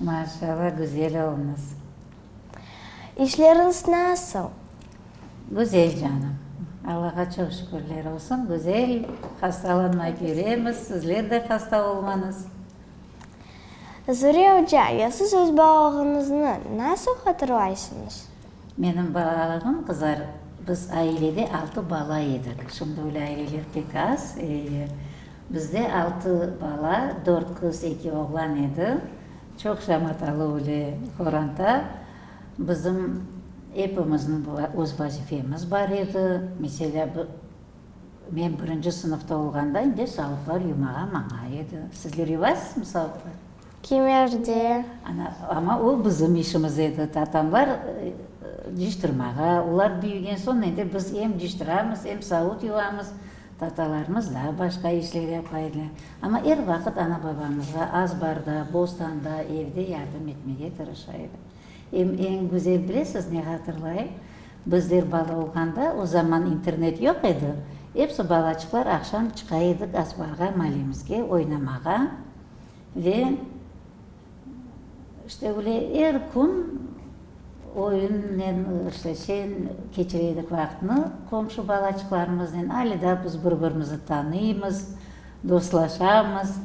Maşalla, güzel olmız. İşleriñiz nasıl? Güzel, canım. Allağa çoq şükürler olsun, güzel. Hastalanmay yüremiz, sizler de hasta olmañız. Zuriye oca, ya siz öz balığıñıznı nasıl hatırlaysıñız? Menim balalıgım qızar, biz ailede altı bala edik. Şimdi öyle aileler pek az. Bizde altı bala, dört qız, eki oğlan edi. Çoq şamatalı öyle qoranta. Bizim epimizniñ öz vazifemiz bar edi. Meselâ, men birinci sınıfta olğanda indi salıqlar yumağa maña edi. Sizler yuvasızmı salıqlar? Kimerde? Ana, amma o bizim işimiz edi, tatamlar ciştirmağa, olar büyügen soñ endi biz em ciştiramiz, em savut yuvamız, tatalarımız daa başqa işler yapa ediler. Amma er vaqıt ana-babamızğa azbarda, bostanda, evde yardım etmege tırışa edi. Em eñ güzel bilesiz ne hatırlayım, bizler bala olğanda, o zaman internet yoq edi, episi balaçıqlar aqşam çıqa edik azbarğa, malemizge oynamağa. Ve işte öyle er kün oyunnen, işte şeyin keçire edik vaqtnı, qomşu balaçıqlarımıznen ale daa biz bir birimizni tanıymız, dostlaşamız.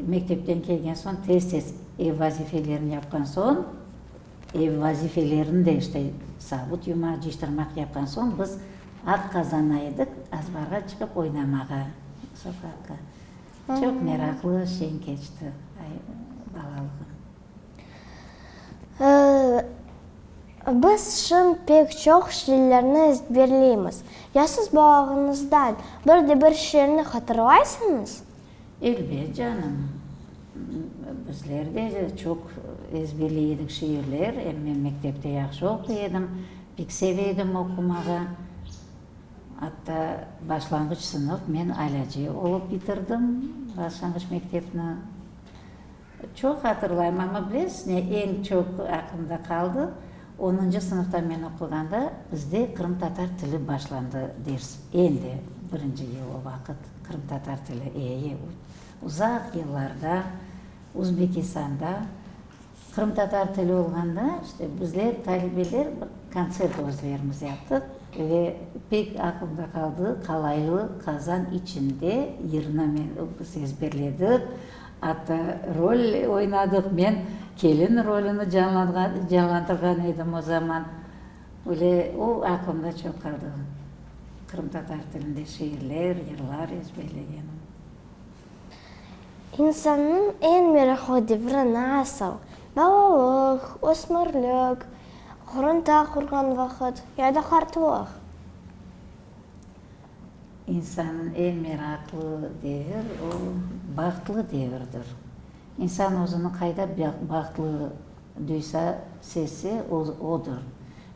Mektepten kelgen soñ tez tez ev vazifelerini yapqan soñ, ev vazifelerini de işte savut yumaq, cıyıştırmaq yapqan soñ biz aq qazana edik azbarğa çıqıp oynamağa, sokaqqa. Çoq meraqlı şeñ keçti balalığım. Biz şın pek çoq şiirlerni ezberleymiz. Ya siz balağıñızdan bir de bir şiirni hatırlaysıñız? Elbet, canım. Bizler de çoq ezberley edik şiirler. Em men mektepte yahşı oquy edim, pek seve edim oqumağa. Atta başlanğıç sınıf men alâce olıp bitirdim başlanğıç mektepni. Çoq hatırlayım, amma bilesiz ne eñ çoq aqlımda qaldı, onıncı sınıfta men oquğanda bizde qırımtatar tili başlandı ders, endi birinci yıl o vaqıt qırımtatar tili, eee, uzaq yıllarda Uzbekistanda. Qırımtatar tili olğanda, işte, bizler, talebeler, bir kontsert özlerimiz yaptıq ve pek aqılımda qaldı, qalaylı qazan içinde yırnı men, biz ezberledik, atta rol oynadıq, men kelin rolini canlandırğan edim o zaman, böyle, o aqılımda çoq qaldı, qırımtatar tilinde şiirler, yırlar ezberlegenim. İnsannıñ eñ meraqlı devri nasıl, balalıq, ösmürlik, ğurunta qurğan vaqıt ya da qartlıq? İnsannıñ eñ meraqlı devir, o, bahtlı devirdir. İnsan özüni qayda bahtlı duysa, sezse, o, odur.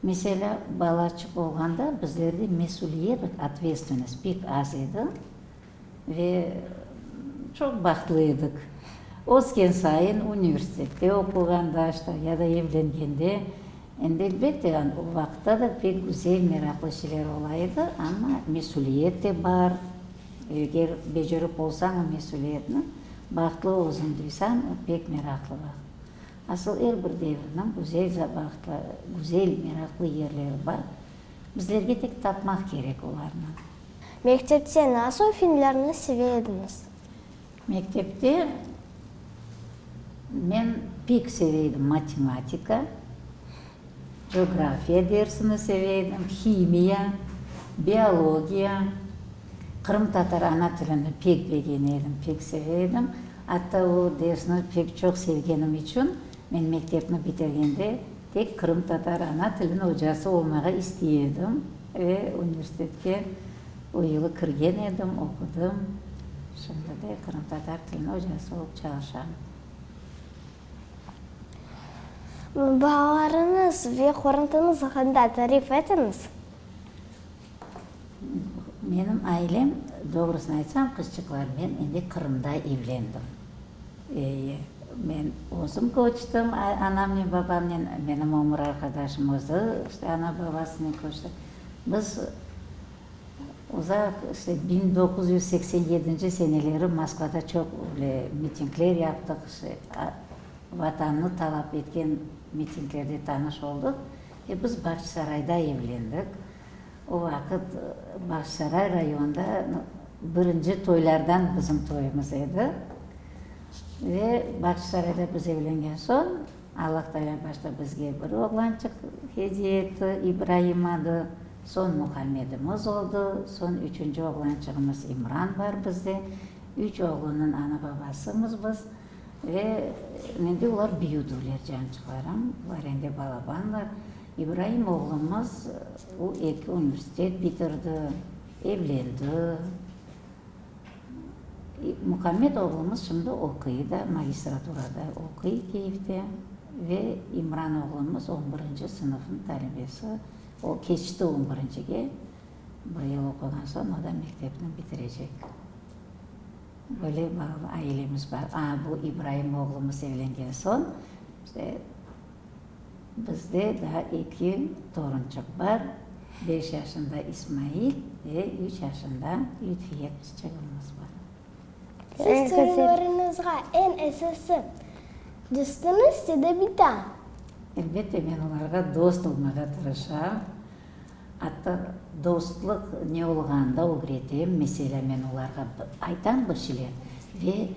Meselâ, balaçıq olğanda bizlerde mesüliyelik, otvetstvennost, pek az edi. Ve çoq bahtlı edik. Ösken sayın, universitette oquğanda, işte, ya da evlengende, endi, elbette, o vaqıtta da pek güzel, meraqlı şeyler ola edi, amma mesüliyet de bar. Eger becerip olsañ o mesüliyetni, bahtlı özüñ duysañ, o pek meraqlı vaqıt. Asıl er bir devirniñ güzel vaqıtları, güzel, meraqlı yerleri bar. Bizlerge tek tapmaq kerek olarnı. Mektepte nasıl filmlerni seve ediñiz? Mektepte men pek seve edim matematika, coğrafiya dersini seve edim, himiya, biologiya, qırımtatar ana tilini pek begene edim, pek seve edim. Atta o dersni pek çoq sevgenim içün men mektepni bitirgende, Tek qırımtatar ana tilin ocası olmağa istey edim ve universitetke o yılı kirgen edim, oqudım. Şimdi de qırımtatar tilin ocası olıp çalışam. Balalarıñız ve qorantıñız aqında tarif etiñiz. Menim ailem, doğrusını aytsam, qızçıqlar, men endi Qırımda evlendim. Eee, men özüm köçtim anamnen, babamnen, menim ömür arqadaşım özü işte ana-babasınen köçti. Biz uzaq, işte biñ doquz yüz seksen yedinci seneleri Moskvada çoq böyle mitingler yaptıq, işte Vatanını talap etken mitinglerde tanış oldıq. Biz Bağçasarayda evlendik. O vaqıt Bağçasaray rayonında birinci toylardan bizim toyumız edi. Ve Bağçasarayda biz evlengen soñ, Allah Taalâ başta bizge bir oğlançıq hediye etti, İbraim adı, soñ Muhammedimiz oldı, soñ üçünci oğlançığımız İmran bar bizde. Üç oğlunnıñ ana-babasımız biz. Ve mende olar büyüdüvler, cancıqlarım, var endi balabanlar. İbraim oğlumız, o eki universitet bitirdi, evlendi. Mukammed oğlumız şimdi oquy da, magistraturada oquy Kyivde. Ve İmran oğlumız on birinci sınıfnıñ talebesi, o keçti on birincige, bir yıl oquğan soñ o da mektepni bitirecek. Böyle bağlı ailemiz bar. A, bu İbraim oğlumız evlengen soñ, işte, bizde daa eki torunçıq bar, beş yaşında İsmail ve üç yaşında Lütfiye qızçığımız bar. Siz torunlarıñızğa eñ esası dostunız ya da bir daa? Elbette, men olarğa dost olmağa tırışam. Atta dostluq ne olğanı da ögretem. Meselâ, men olarğa aytam bir şeyler ve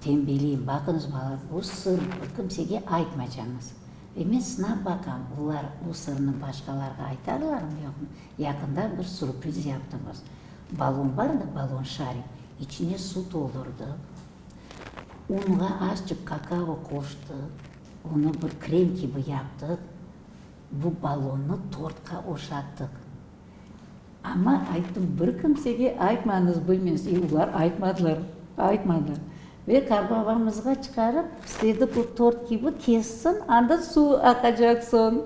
tenbeleyim, baqıñız, balalar, bu sır, bunu kimsege aytmaycañız. Ve men sınap baqam, olar bu sırnı başqalarğa aytarlarmı, yoqmı. Yaqında bir surpriz yaptımız. Ballon bar dı, ballon şarik, içine suv toldurdıq, unğa azçıq kakao qoştıq, onı bir krem kibi yaptıq, Bu balonnı tortqa oşattıq. Amma ayttım, bir kimsege aytmañız, bilmez. E, olar aytmadılar, aytmadılar. Ve qarbabamızğa çıqarıp, istedi bu tort kibi kessin, anda suv aqacaq soñ.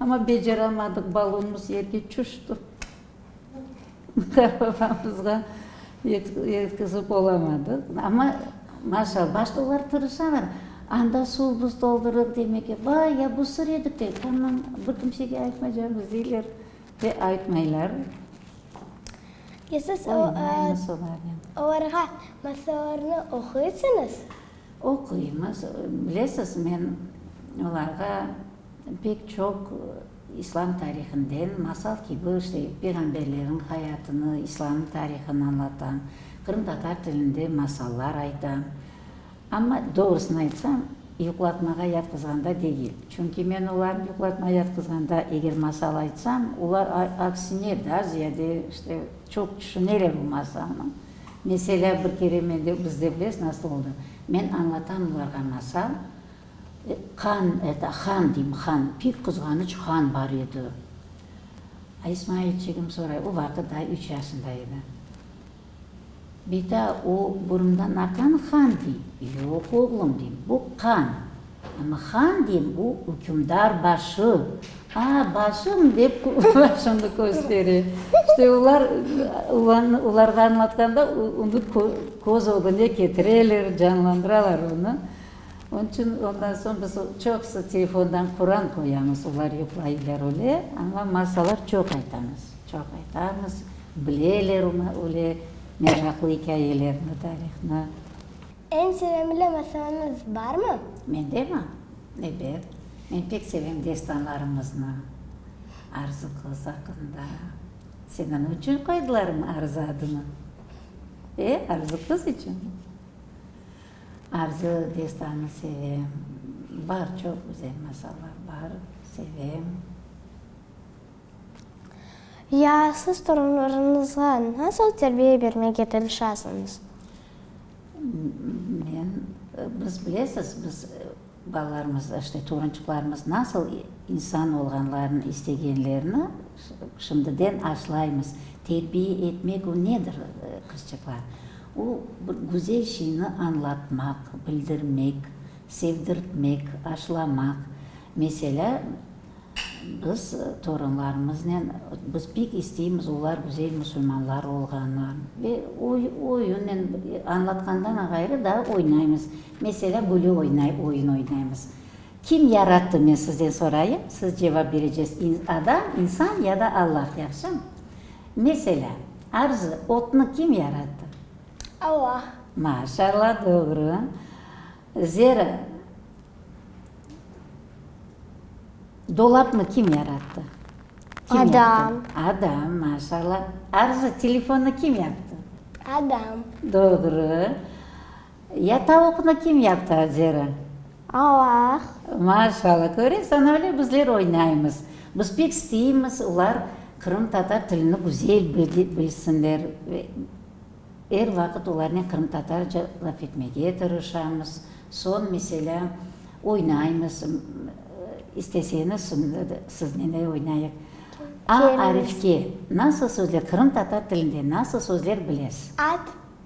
Amma beceremadıq, balonnımız yerge çüşti. Dava-babamızğa yetkizip olamadıq. Amma, maşallah, başta olar tırışalar, anda suv-buz toldurıp demege, vay, ya bu sır edi pek, tamam, bir kimsege aytmaycamız, deyler ve aytmaylar. Ya siz olarğa masallarnı oquysıñız? Oquymız. Bilesiz, men olarğa pek çoq. İslâm tarihinden masal kibi işte peyğamberleriñ hayatını, İslâm tarihını añlatam, qırımtatar tilinde masallar aytam. Amma, doğrusını aytsam, yuqlatmağa yatqızğanda degil. Çünki men olarnı yuqlatmağa yatqızğanda eger masal aytsam, olar aksine daa ziyade işte çoq tüşüneler o masalnı. Meselâ, bir kere mende, bizde bilesiz nasıl oldı, men añlatam olarğa masal, Qan, eta, han deyim, han, pek qızğanıç han bar edi. İsmailçigim soray, o vaqıt daa üç yaşında edi. Beta, o burundan aqan han dey? Yoq, oğlum, deyim, bu qan. Amma han deyim, o ükümdar başı. A, başım, dep, başımnı köstere. İşte olar, olarğa añlatqanda, onı köz ögüne ketireler, canlandıralar onı. Onıñ içün ondan soñ biz çoqusı telefondan Quran qoyamız, olar yuqlaylar öyle, amma masallar çoq aytamız, çoq aytamız, bileler öyle meraqlı ikâyelerni, tarihni. Eñ sevimli masalanıñ barmı? Mendemi? Ebet, men pek sevem destanlarımıznı, Arzı qız aqqında. Seniñ içün qoydılarmı Arzı adını? E, Arzı qız içün. Arzı destanı sevem. Bar, çoq güzel masallar bar, sevem. Ya siz torunlarıñızğa nasıl terbiye bermege tırışasıñız? Men, biz bilesiz, biz. Balalarımız, işte, torunçıqlarımız nasıl insan olğanlarını istegenlerini şimdiden aşlaymız. Terbiye etmek, o nedir, qızçıqlar? O, bir güzel şeyni añlatmaq, bildirmek, sevdirtmek, aşlamaq. Meselâ, biz torunlarımıznen, biz pek isteymiz olar güzel musulmanlar olğanlarını. Ve oyunnen, añlatqandan ğayrı daa oynaymız. Meselâ, böyle oynay, oyun oynaymız. Kim yarattı, men sizden sorayım, siz cevap berecesiz, adam, insan ya da Allah, yahşımı? Meselâ, Arzı, otnı kim yarattı? Allah. Maşallah, doğru. Zera, dolapnı kim yarattı? Adam. Adam, maşallah. Arzı, telefonnı kim yaptı? Adam. Doğru. Ya tavuqnı kim yaptı, Azera? Alla-a-ah! Maşalla, köresañ, öyle bizler oynaymız. Biz pek isteymiz, olar qırımtatar tilini güzel bilsinler. Er vaqıt olarnen qırımtatarca laf etmege tırışamız. Soñ, meselâ, oynaymız. İsteseñiz, şimdi de siznen de oynayıq. A arifke nasıl sözler, qırımtatar tilinde nasıl sözler bilesiz? At,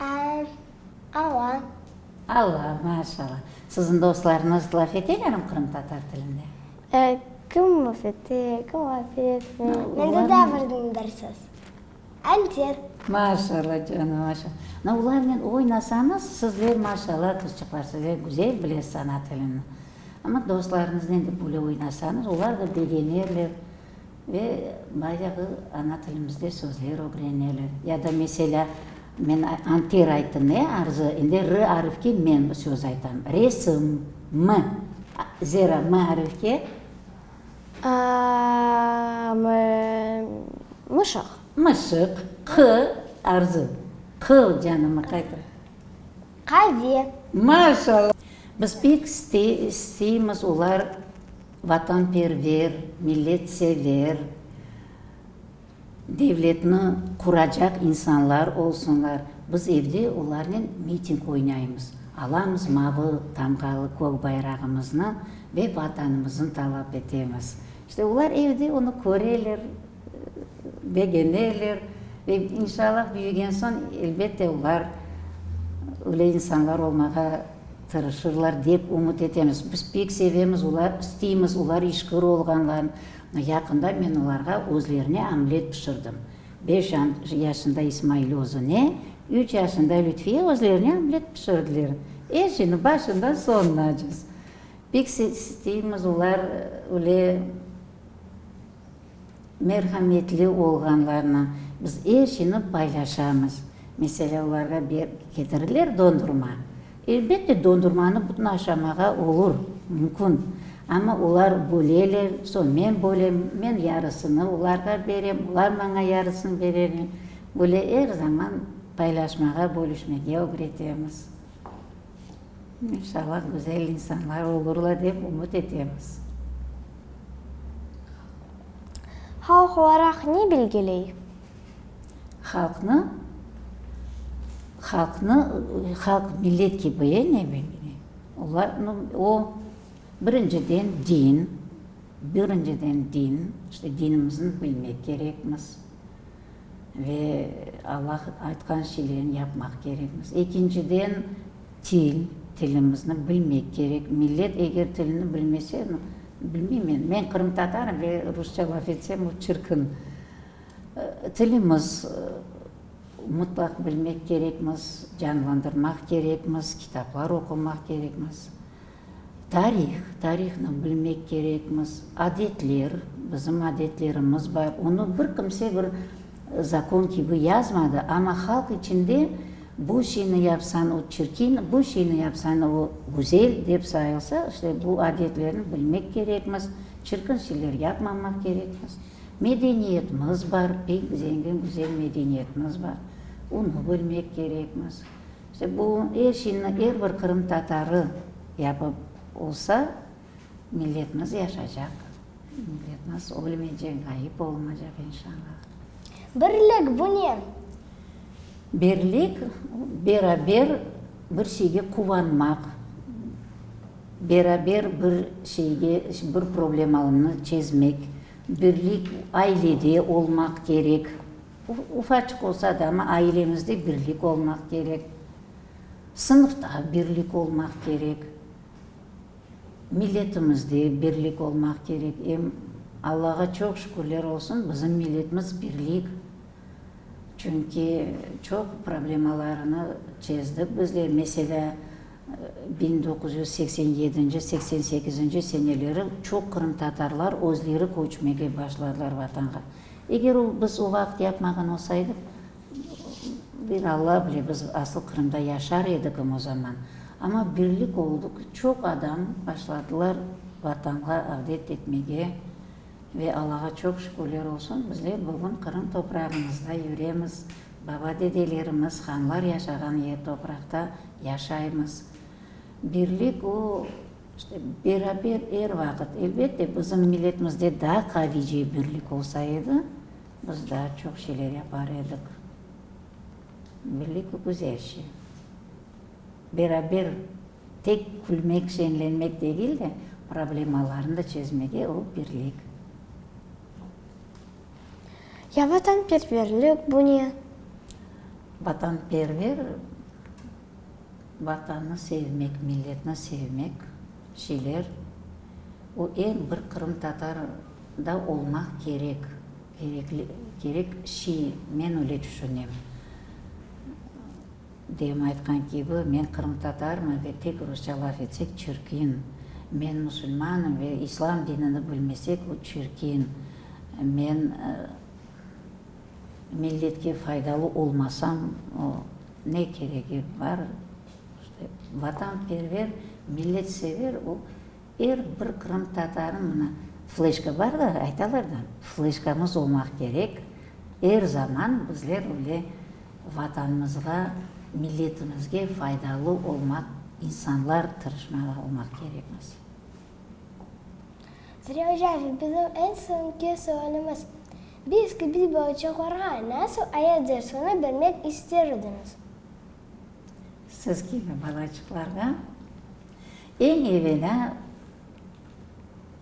Al, ala. Ala, maşalla. Siziñ dostlarıñız laf etelermi qırımtatar tilinde? E, kim laf ete, kim laf etmey. Mende da bir nındırsız. Alter. Maşalla, canım, maşalla. Na, olarnen oynasañız, sizler, maşalla, qızçıqlar, sizler güzel bilesiz ana tilini. Amma dostlarıñıznen de böyle oynasañız, olar da begenerler. Ve bayağı ana tilimizde sözler ögreneler. Ya da meselâ, men antir ayttım, ne, arzı, endi r arifke men söz aytam. Resim, m. Zera, m arifke? M, mışıq. Mışıq. Q, arzı. Q, canım, qaytar. Qave. Maşallah! Biz pek isteymiz olar. Vatanperver, milletsever devletni quracaq insanlar olsunlar. Biz evde olarnen miting oynaymız, alamız mavı tamğalı kök bayrağımıznı ve Vatanımıznı talap etemiz. İşte olar evde onı köreler. begeneler ve inşallah büyügen soñ elbette olar öyle insanlar olmağa tırışırlar dep ümüt etemiz. Biz pek sevemiz, olar, isteymiz olar işkır olğanlarını. Yaqında men olarğa özlerine omlet pişirdim. Beş yaşında İsmail özüne, üç yaşında Lütfiye özlerine omlet pişirdiler. Er şeyni başından soñunacız. Pek isteymiz olar öyle Merhametli olğanlarla biz er şeyni paylaşamız. Meselâ, olarğa ketirirler dondurma. Elbette, dondurmanı bütün aşamağa olur, mümkün. Amma olar böleler, soñ men bölem, men yarısını olarğa berem, olar maña yarısını bereler. Böyle er zaman paylaşmağa, bölüşmege ögretemiz. İnşallah güzel insanlar olurlar dep ümüt etemiz. Halq olaraq ne belgiley? Halqnı, halqnı, halq millet kibi ne belgiley? Olar, nu, o, birinciden din, birinciden din, işte dinimizni bilmek kerekmiz. Ve Alla aytqan şeylerni yapmaq kerekmiz. Ekinciden, til, tilimizni bilmek kerek. Millet eger tilini bilmese, bilmeymen, men qırımtatarım ve rusça laf etsem, o çirkin. Tilimiz mutlaq bilmek kerekmiz, canlandırmaq kerekmiz, kitaplar oqumaq kerekmiz. Tarih, tarihnı bilmek kerekmiz. Adetler, bizim adetlerimiz bar. Onı bir kimse bir zakon kibi yazmadı, amma halq içinde bu şeyni yapsan, o çirkin, bu şeyni yapsan, o güzel dep sayılsa, işte bu adetlerni bilmek kerekmiz, çirkin şeyler yapmamaq kerekmiz. Medeniyetimiz bar, pek zengin, güzel medeniyetimiz bar. Onı bilmek kerekmiz. İşte bu er şeyni er bir qırımtatarı yapıp olsa, milletimiz yaşacaq, milletimiz ölmeycek, ğayıp olmaycaq, inşallah. Birlik, bu ne? Birlik, beraber bir şeyge quvanmaq, beraber bir şeyge, bir problemalnı çezmek, birlik, ailede olmaq kerek, Ufaçıq olsa da, amma ailemizde birlik olmaq kerek, sınıfta birlik olmaq kerek, milletimizde birlik olmaq kerek. Em Allağa çoq şükürler olsun, bizim milletimiz birlik. Çünki çoq problemalarını çezdik bizler. Meselâ, biñ doquz yüz seksen yedinci, seksen sekizinci seneleri çoq qırımtatarlar özleri köçmege başladılar Vatanğa. Eger o, biz o vaqıt yapmağan olsaydıq, bir Alla bile, biz asıl Qırımda yaşar edikim o zaman. Amma birlik oldı ki, çoq adam başladılar Vatanğa avdet etmege ve Allağa çoq şükürler olsun, bizler bugün Qırım toprağımızda yüremiz, baba-dedelerimiz, hanlar yaşağan yer topraqta yaşaymız. Birlik o, İşte, beraber er vaqıt, elbette, bizim milletimizde daa qavice birlik olsa edi, biz daa çoq şeyler yapar edik. Birlik bu güzel şey. Beraber tek külmek, şenlenmek degil de, problemalarnı da çezmege o birlik. Ya vatanperverlik bu ne? Vatanperver. Vatanı sevmek, milletni sevmek şeyler, o eñ bir qırımtatar da olmaq kerek, kerekli, kerek şey, men öyle tüşünem. Dem aytqan kibi, men qırımtatarmın ve tek rusça laf etsek çirkin, men musulmanım ve islam dinini bilmesek o çirkin, men milletke faydalı olmasam o. Ne keregi bar? İşte, vatanperver, milletsever o, er bir qırımtatarnıñ, mına, fleşka bar da, aytalar da, fleşkamız olmaq kerek, er zaman bizler öyle Vatanımızğa, milletimizge faydalı olmaq insanlar, tırışmalı olmaq kerekmiz. Züleyha Cavit, bizim eñ soñki sualimiz, Biz kibi balaçaqlarğa nasıl ayat dersini bermek ister ediñiz? Siz kibi balaçıqlarğa eñ evelâ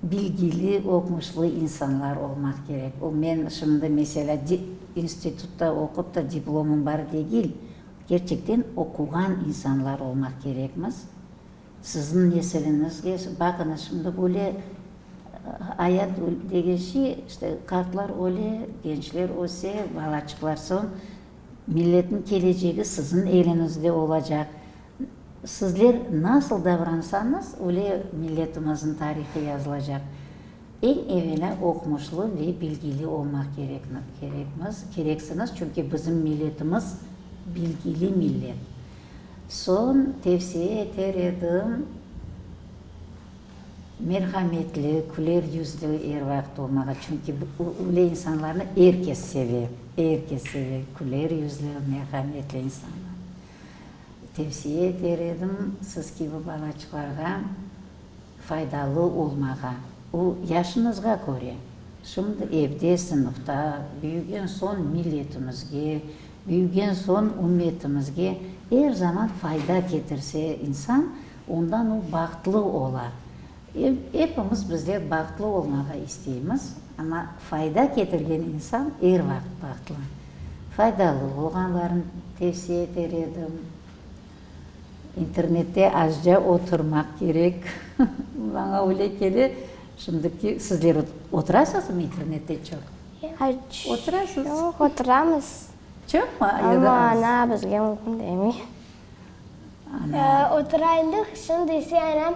bilgili, oqmuşlı insanlar olmaq kerek. O, men şimdi, meselâ, institutta oqup ta diplomım bar degil, kerçekten oquğan insanlar olmaq kerekmiz. Sizniñ nesiliñizge, baqıñız, şimdi böyle ayat degenşe, işte, qartlar öle, gençler öse, balaçıqlar soñ, milletniñ kelecegi sizniñ eliñizde olacaq. Sizler nasıl davransañız, öyle milletimiziñ tarihı yazılacaq. Eñ evelâ oqumuşlı ve bilgili olmaq kerek, kerekmiz, kereksiñiz, çünki bizim milletimiz bilgili millet. Soñ tevsiye eter edim, merhametli, küler yüzlü er vaqıt olmağa, çünki öyle insanlarnı er kes seve, er kes seve, küler yüzlü, merhametli insanlar. Tevsiye eter edim, siz kibi balaçıqlarğa faydalı olmağa, o, yaşıñızğa köre. Şimdi evde, sınıfta büyügen soñ milletimizge, Büyügen soñ ümmetimizge er zaman fayda ketirse insan, ondan o bahtlı ola. Epimiz bizler bahtlı olmağa isteymiz, amma fayda ketirgen insan er vaqıt bahtlı. Faydalı olğanlarını tevsiye eter edim. İnternette azca oturmaq kerek. Maña öyle kele. Şimdiki sizler oturasızmı internette çoq? Oturasız? Yoq, oturamız. Çoqmı ya da az? Amma ana bizge mümkün demiy. Oturaylıh, şimdi ise ana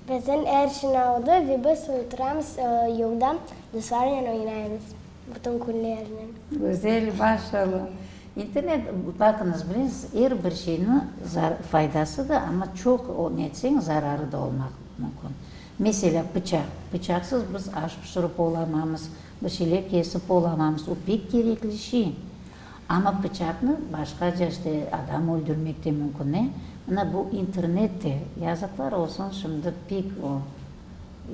biziñ er işini aldı ve biz oturamız yolda dostlarnen oynayımız bütün künlernen. Gözel, maşalla. İnternet, baqıñız, bilesiz, er bir şeyniñ faydası da, amma çoq ne etseñ zararı da olmaq mümkün. Meselâ, pıçaq. Pıçaqsız biz aş pişirip olamamız, bir şeyler kesip olamamız. O, pek kerekli şey. Amma pıçaqnı başqaca, işte, adam öldürmek te mümkün, ne? Mına bu internet de, yazıqlar olsun, şimdi pek o,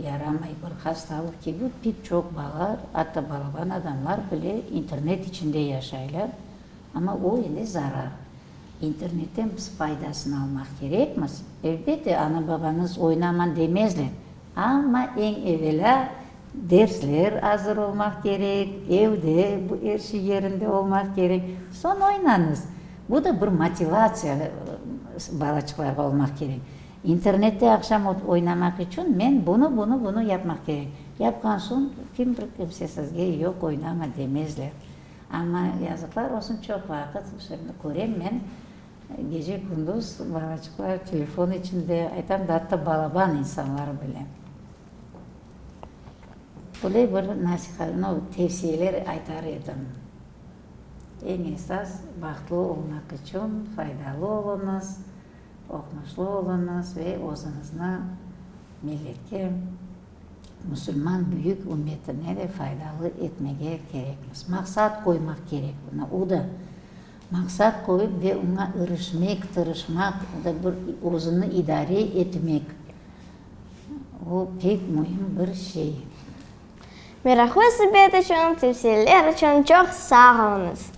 yaramay, bir hastalıq kibi, pek çoq balalar, atta balaban adamlar bile internet içinde yaşaylar. Amma o, endi zarar. İnternetten biz faydasını almaq kerekmiz. Elbette, ana-babañız oynamañ demezler, amma eñ evelâ dersler azır olmaq kerek, evde bu er şey yerinde olmaq kerek, soñ oynañız. Bu da bir motivatsiya balaçıqlarğa olmaq kerek. İnternette aqşam oynamaq içün men bunı, bunı, bunı yapmaq kerek. Yapqan soñ kim bir kimse sizge yoq oynama demezler. Amma yazıqlar olsun, çoq vaqıt, şimdi körem men, gece-kündüz balaçıqlar telefon içinde, aytam da, atta balaban insanlar bile. Böyle bir nasihat, no, tevsiyeler aytar edim, eñ esas, bahtlı olmaq içün faydalı oluñız, oqmuşlı oluñız ve özüñizni milletke. musulman büyük ümmetine de faydalı etmege kerekmiz. Maqsat qoymaq kerek buna. O da maqsat qoyıp ve oña irişmek, tırışmaq, o da bir özüni idare etmek, o pek müim bir şey. Meraqlı subet içün, tevsiyeler içün çoq sağ oluñız.